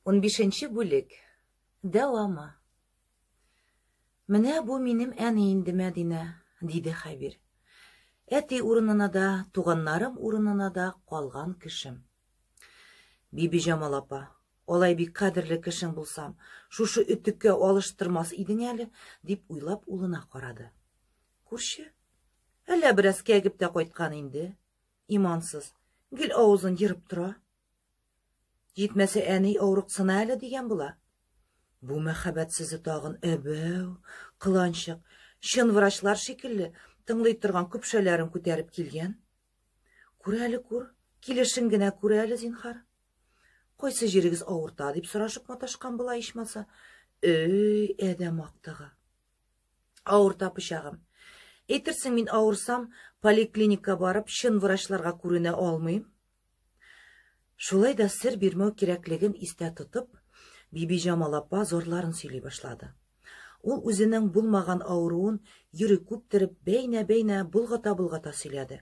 Унбишенче бүлек. Дәвамы. Менә бу минем әни инде Мәдинә, диде Хәбир. Әти урынына да, туганнарым урынына да калган кешем. Бибиҗамал апа, алай бик кадерле кешең булсам, шушы өтеккә алыштырмас идең әле, дип уйлап улына карады. Күрше, әллә бераз кәгеп тә кайткан инде. Имансыз, гел авызын ерып тора, Җитмәсә, әни авырыксына әле дигән була. Бу мәхәббәт сүзе тагын әбәү, кыланчык, чын врачлар шикелле тыңлый торган көпшәләрен күтәреп килгән. Күр әле, күр, килешен генә күр әле, зинхар. Кайсы җирегез авырта, дип сорашып маташкан була ичмаса. Өй, әдәм актыгы. Авырта пычагым. Әйтерсең, мин авырсам, поликлиника барып, чын врачларга күренә алмыйм. Шулай да сер бирмәү кирәклеген истә тотып, Бибиҗамал апа зарларын сөйли башлады. Ул үзенең булмаган авыруын йөри күптереп бәйнә-бәйнә болгата-болгата сөйләде.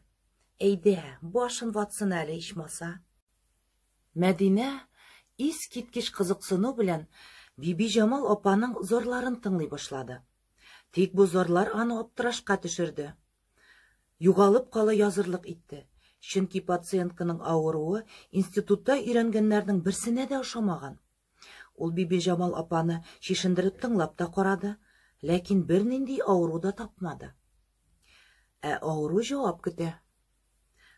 Әйдә, башын ватсын әле ичмаса. Мәдинә ис киткеч кызыксыну белән Бибиҗамал апаның зарларын тыңлый башлады. Тик бу зарлар аны аптырашка төшерде. Югалып кала язырлык итте. Чөнки пациентканың авыруы институтта өйрәнгәннәрнең берсенә дә ошамаган. Ул Бибиҗамал апаны чишендереп тыңлап та карады, ләкин бернинди авыру да тапмады. Ә авыру җавап көтә.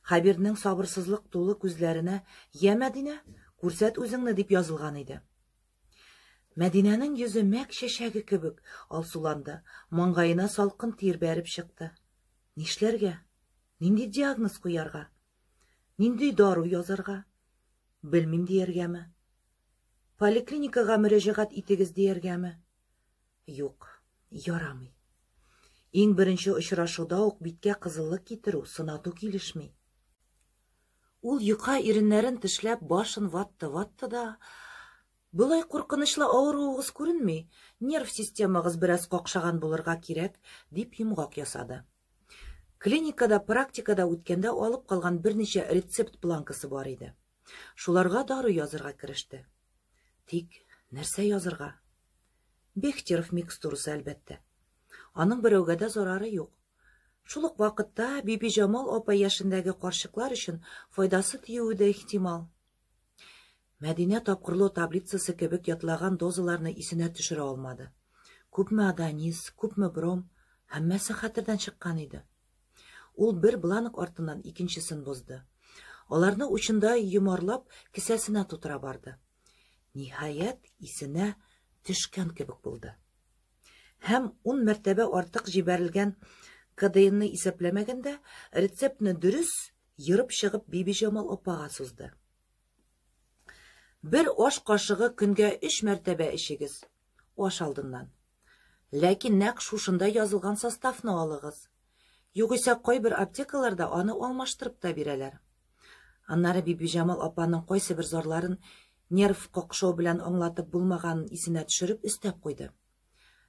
Хәбирнең сабырсызлык тулы күзләренә, Йә, Мәдинә, күрсәт үзеңне, дип язылган иде. Мәдинәнең йөзе мәк чәчәге кебек алсуланды, маңгаена салкын тир бәреп чыкты. Нишләргә? Нинди диагноз куярга? Нинди дару язарга? Белмим дияргәме? Поликлиникага мөрәҗәгать итегез дияргәме? Юк, ярамый. Иң беренче очрашуда ук биткә кызыллык китерү, сынату килешми. Ул йока иреннәрен тешләп башын ватты-ватты да, Болай куркынычлы авыруыгыз күренми, нерв системагыз бераз какшаган булырга кирәк, дип йомгак ясады. Клиникада, практикада үткәндә алып калган берничә рецепт планкасы бар иде. Шуларга дару язырга кереште. Тик нәрсә язырга? Бехтеров микстурасы, әлбәттә. Аның берәүгә дә зарары юк. Шул ук вакытта Бибиҗамал апа яшендәге карчыклар өчен файдасы тиюе дә ихтимал. Мәдинә тапкырлау таблицасы кебек ятлаган дозаларны исенә төшерә алмады. Күпме адонис, күпме бром, һәммәсе хәтердән чыккан иде. Ул бер бланк артыннан икенчесен бозды. Аларны учында йомарлап, кесәсенә тутыра барды. Ниһаять, исенә төшкән кебек булды. һәм ун мәртәбә артык җибәрелгән КДИнны исәпләмәгәндә, рецептны дөрес ерып чыгып Бибиҗамал апага сузды. Бер аш кашыгы көнгә өч мәртәбә эчегез, аш алдыннан. Ләкин нәкъ шушында язылган составны алыгыз. Югыйсә кайбер аптекаларда аны алмаштырып та бирәләр. Аннары Бибиҗамал апаның кайсы бер зарларын нерв какшау белән аңлатып булмаганын исенә төшереп өстәп куйды.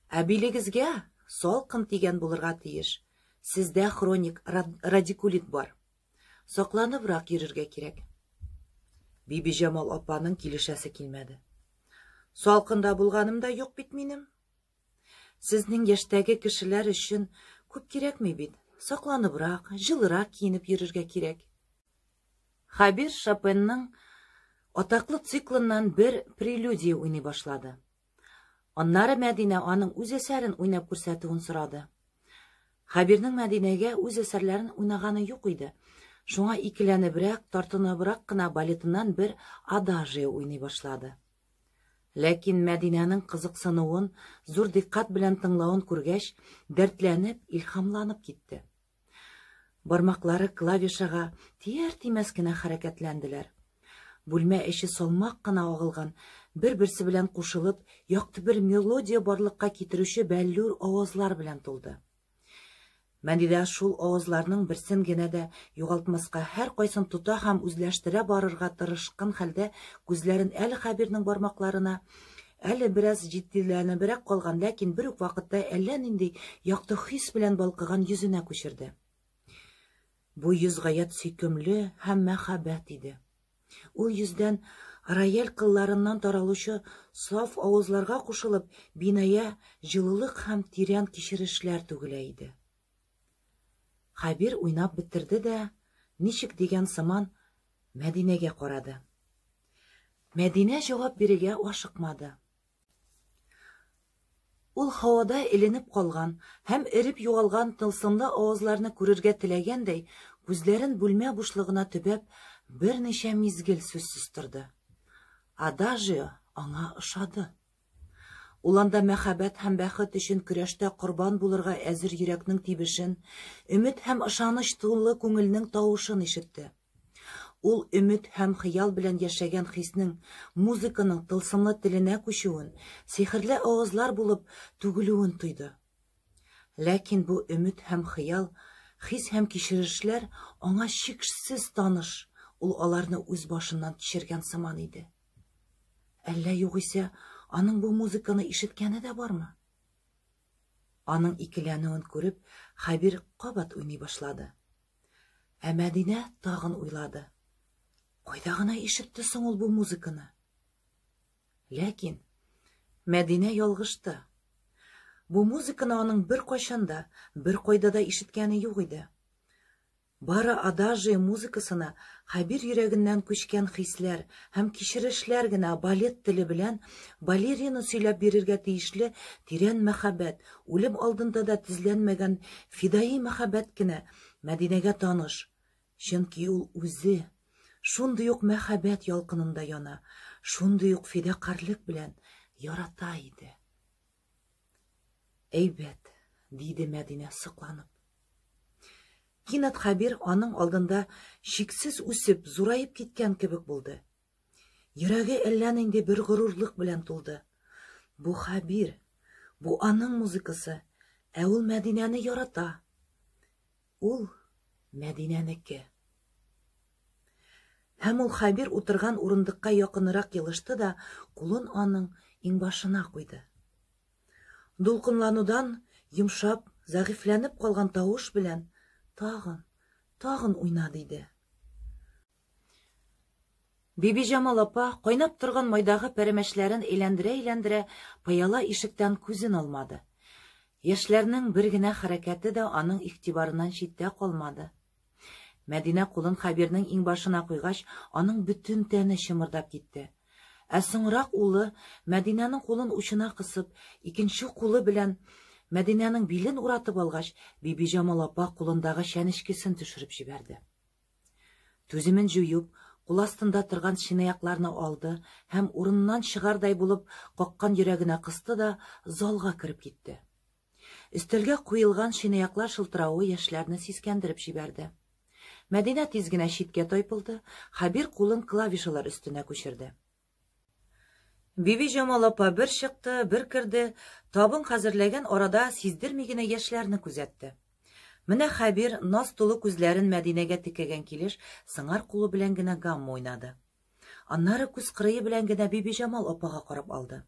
Ә билегезгә салкын тигән булырга тиеш. Сездә хроник радикулит бар. Сакланыбрак йөрергә кирәк. Бибиҗамал апаның килешәсе килмәде. Салкында булганым да юк бит минем. Сезнең яшьтәге кешеләр өчен күп кирәкми бит. Сакланыбрак, җылырак киенеп йөрергә кирәк. Хабир Шопенның атаклы циклыннан бер прелюдия уйный башлады. Аннары Мәдинә аның үз әсәрен уйнап күрсәтүен сорады. Хабирның Мәдинәгә үз әсәрләрен уйнаганы юк иде. Шуңа икеләнебрәк, тартыныбрак кына балетыннан бер адажия уйный башлады. Ләкин Мәдинәнең кызыксынуын, зур диккать белән тыңлавын күргәч, дәртләнеп, илһамланып китте. Бармаклары клавишага тияр-тимәс кенә хәрәкәтләнделәр. Бүлмә эче салмак кына агылган, бер-берсе белән кушылып, якты бер мелодия барлыкка китерүче бәллүр авазлар белән тулды. Мәдидә шул авызларның берсен генә дә югалтмаска, һәр кайсын тота һәм үзләштерә барырга тырышкын хәлдә күзләрен әле Хәбирнең бармакларына, әле бераз җитдиләнебрәк калган, ләкин бер үк вакытта әллә нинди якты хис белән балкыган йөзенә күчерде. Бу йөз гаять сөйкемле һәм мәһабәт иде. Ул йөздән рояль кылларыннан таралучы саф авызларга кушылып, биная җылылык һәм тирән кичерешләр түгелә иде. Хәбир уйнап бетерде дә, ничек дигән сыман, Мәдинәгә карады. Мәдинә җавап бирергә ашыкмады. Ул һавада эленеп калган һәм эреп югалган тылсымлы авазларны күрергә теләгәндәй, күзләрен бүлмә бушлыгына төбәп, берничә мизгел сүз состырды. Адажио аңа ошады. Ул анда мәхәббәт һәм бәхет өчен көрәштә корбан булырга әзер йөрәкнең тибешен, өмет һәм ышаныч тулы күңелнең тавышын ишетте. Ул өмет һәм хыял белән яшәгән хиснең музыканың тылсымлы теленә күчүен, сихерле авазлар булып түгелүен тойды. Ләкин бу өмет һәм хыял, хис һәм кичерешләр аңа чикшсез таныш, ул аларны үз башыннан кичергән сыман иде. Әллә югыйсә, аның бу музыканы ишеткәне дә бармы? Аның икеләнүен күреп, Хәбир кабат уйный башлады. Ә Мәдинә тагын уйлады. Кайда гына ишетте соң ул бу музыканы? Ләкин Мәдинә ялгышты. Бу музыканы аның бер кайчанда, бер кайда да ишеткәне юк иде. Бары адажи музыкасына Хәбир йөрәгеннән күчкән хисләр һәм кичерешләр генә балет теле белән балерина сөйләп бирергә тиешле тирән мәхәббәт, Үлем алдында да тизләнмәгән фидаи мәхәббәт кенә Мәдинәгә таныш, чөнки ул үзе шундый ук мәхәббәт ялкынында яна, шундый ук фидакарьлек белән ярата иде. Әйбәт, диде Мәдинә сокланып. Кинәт Хәбир аның алдында чиксез үсеп, зураеп киткән кебек булды. Йөрәге әллә нинди бер горурлык белән тулды. Бу Хәбир, бу аның музыкасы, ә ул Мәдинәне ярата. Ул Мәдинәнеке. Һәм ул Хәбир утырган урындыкка якынрак елышты да, кулын аның иңбашына куйды. Дулкынланудан йомшап, зәгыйфьләнеп калган тавыш белән тагын, тагын уйна, диде. Бибиҗамал апа, кайнап торган майдагы пәрәмәчләрен әйләндерә-әйләндерә, пыяла ишектән күзен алмады. Яшьләрнең бер генә хәрәкәте дә аның игътибарыннан читтә калмады. Мәдинә кулын Хәбирнең иңбашына куйгач, аның бөтен тәне чымырдап китте. Ә соңрак улы, Мәдинәнең кулын учына кысып, икенче кулы белән Мәдинәнең билен уратып алгач, Бибиҗамал апа кулындагы чәнечкесен төшереп җибәрде. Түземен җуеп, кул астында торган чынаякларны алды һәм урыннан чыгардай булып каккан йөрәгенә кысты да залга кереп китте. Өстәлгә куелган чынаяклар шылтыравы яшьләрне сискәндереп җибәрде. Мәдинә тиз генә читкә тайпылды, Хәбир кулын клавишалар өстенә күчерде. Бибиҗамал апа бер чыкты, бер керде, табын хәзерләгән арада сиздерми генә яшьләрне күзәтте. Менә Хәбир наз тулы күзләрен Мәдинәгә текәгән килеш сыңар кулы белән генә гамма уйнады. Аннары күз кырые белән генә Бибиҗамал апага карап алды.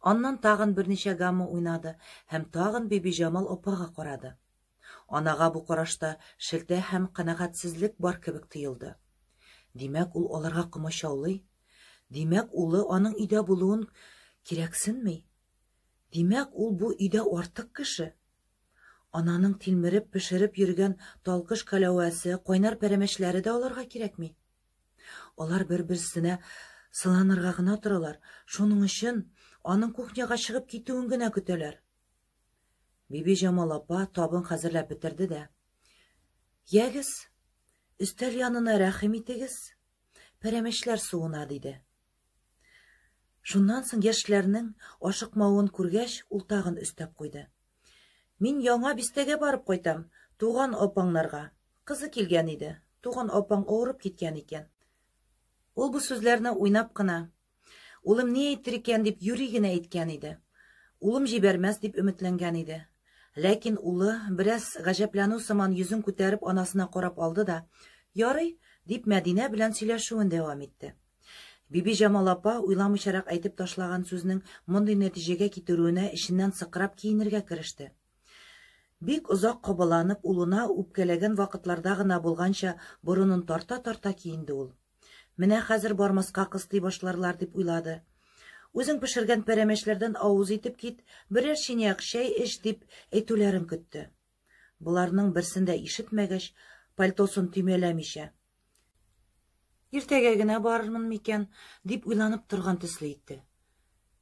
Аннан тагын берничә гамма уйнады һәм тагын Бибиҗамал апага карады. Анага бу карашта шелтә һәм канәгатьсезлек бар кебек тоелды. Димәк, ул аларга комачаулый. Димәк, улы аның өйдә булуын кирәксенми. Димәк, ул бу өйдә артык кеше. Ананың тилмереп пешереп йөргән талкыш каләвәсе, кайнар пәрәмәчләре дә аларга кирәкми. Алар бер-берсенә сыланырга гына торалар, шуның өчен аның кухняга чыгып китүен генә көтәләр. Бибиҗамал апа табын хәзерләп бетерде дә. Ягез, өстәл янына рәхим итегез, пәрәмәчләр суына, диде. Шуннан соң яшьләрнең ашыкмавын күргәч, ул тагын өстәп куйды. Мин яңа бистәгә барып кайтам, туган апаңнарга. Кызы килгән иде, туган апаң авырып киткән икән. Ул бу сүзләрне уйнап кына, Улым ни әйтер икән дип юри генә әйткән иде. Улым җибәрмәс дип өметләнгән иде. Ләкин улы, бераз гаҗәпләнү сыман йөзен күтәреп анасына карап алды да, Ярый, дип Мәдинә белән сөйләшүен дәвам итте. Бибиҗамал апа уйламыйчарак әйтеп ташлаган сүзнең мондый нәтиҗәгә китерүенә эченнән сыкрап киенергә кереште. Бик озак кабаланып, улына үпкәләгән вакытларда гына булганча борынын тарта-тарта киенде ул. Менә хәзер бармаска кыстый башларлар, дип уйлады. Үзең пешергән пәрәмәчләрдән авыз итеп кит, берәр чиняк чәй эч, дип әйтүләрен көтте. Боларның берсен дә ишетмәгәч, пальтосын төймәләмичә. Иртәгә генә барырмын микән, дип уйланып торган төсле итте.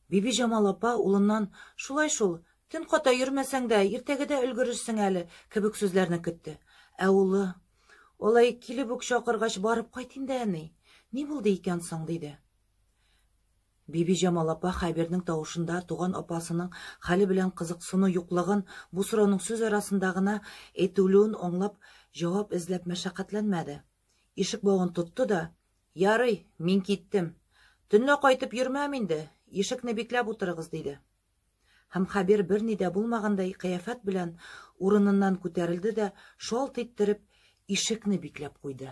Бибиҗамал апа улыннан Шулай шул, төн ката йөрмәсәң дә, иртәгәдә өлгерерсең әле, кебек сүзләрне көтте. Ә улы, Алай килеп үк чакыргач, барып кайт инде, әни. Ни булды икән соң? диде. Бибиҗамал апа Хәбирнең тавышында туган апасының хәле белән кызыксыну юклыгын, бу сорауның сүз арасында гына әйтелүен аңлап, җавап эзләп мәшәкатьләнмәде. Ишек бавын тотты да, Ярый, мин киттем. Төнлә кайтып йөрмәм инде, ишекне бикләп утырыгыз, диде. Һәм Хәбир берни дә булмагандай кыяфәт белән урыныннан күтәрелде дә, шалт иттереп, ишекне бикләп куйды.